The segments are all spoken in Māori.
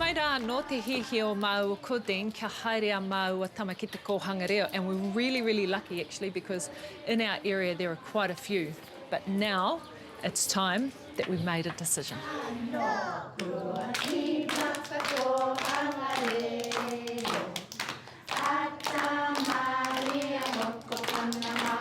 Mai rā anō te hiahia o māua ko Dean kia haere a māua tama ki te kōhanga reo and we're really really lucky actually because in our area there are quite a few but now it's time that we made a decision. Anō kua tīmata kōhanga reo a tā Maria Mokopuna mā.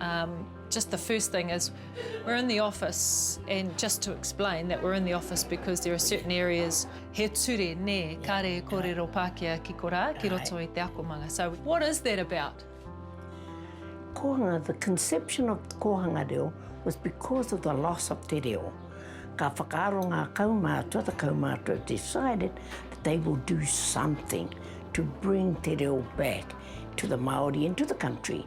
Um, just the first thing is we're in the office and just to explain that we're in the office because there are certain areas he ture ne kare e korero Pākehā ki korā ki roto i te akomanga. So what is that about? Kohanga, the conception of kohanga reo was because of the loss of te reo. Ka whakaaro ngā kaumātua, the kaumātua decided that they will do something to bring te reo back to the Māori and to the country.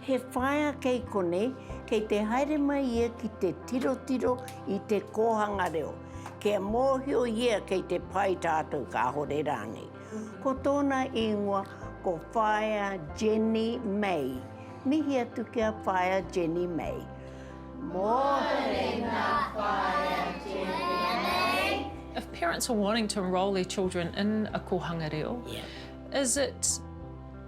He whaea kei konei, kei te haere mai ia ki te tirotiro i te kōhanga reo, kia mōhio ia kei te pai tātou kāore rānei. Ko tōna īngoa ko Whaea Jenny May. Mihi atu ki a Whaea Jenny May. Mōreena Whaea Jenny May. If parents are wanting to enrol their children in a kōhanga reo, is it.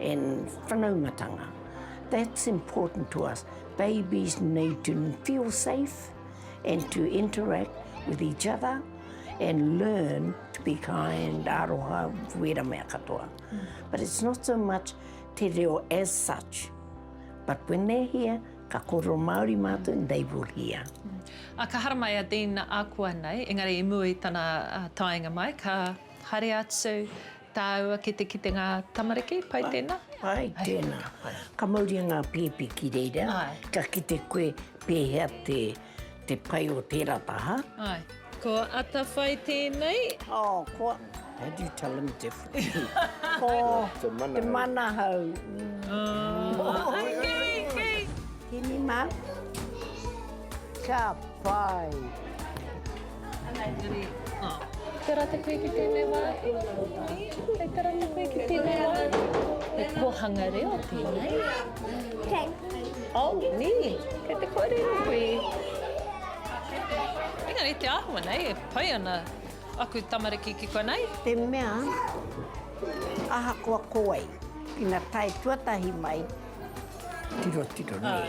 and whanaumatanga. That's important to us. Babies need to feel safe and to interact with each other and learn to be kind, aroha, wera mea katoa. Mm. But it's not so much te reo as such, but when they're here, ka koro Māori mātou, mm. they will hear. Mm. A ka haramai a Dean Akua nei, engari i mua i tana uh, taenga mai, ka haere atu, Tāua ki te kite ngā tamariki, pai tēnā? Pai tēnā. Ka mauria ngā pēpi ki reira, ka kite koe pēhea te pai o tērā taha. Ko Atawhai tēnei. Oh, ko, how do you tell them differently? Ko Te Manahau. Tēnei mā. Ka pai. Tera te koe ki tēnei wā. Hei tera te koe ki tēnei wā. He kōhanga reo tēnei. Kei. Oh, nī. Kei te kōrero koe. Engari te āhua nei, e pai ana aku tamariki ki konei. Te mea, ahakoa ko wai, ina tae tuatahi mai, tirotiro nei.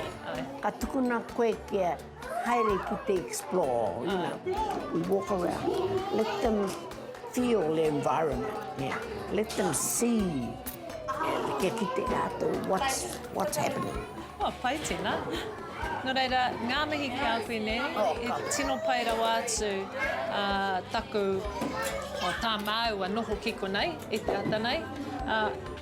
Ka tukuna koe kia Haere ki te explore, you know, we walk around, let them feel the environment, yeah. let them see, yeah, kia kite rātou what's, what's happening. Oh, pai tēnā. Nō reira, ngā mihi ki a koe nei, oh, e tino pai rawa atu uh, taku, o oh, tā māua noho ki konei, e te ata nei. Uh,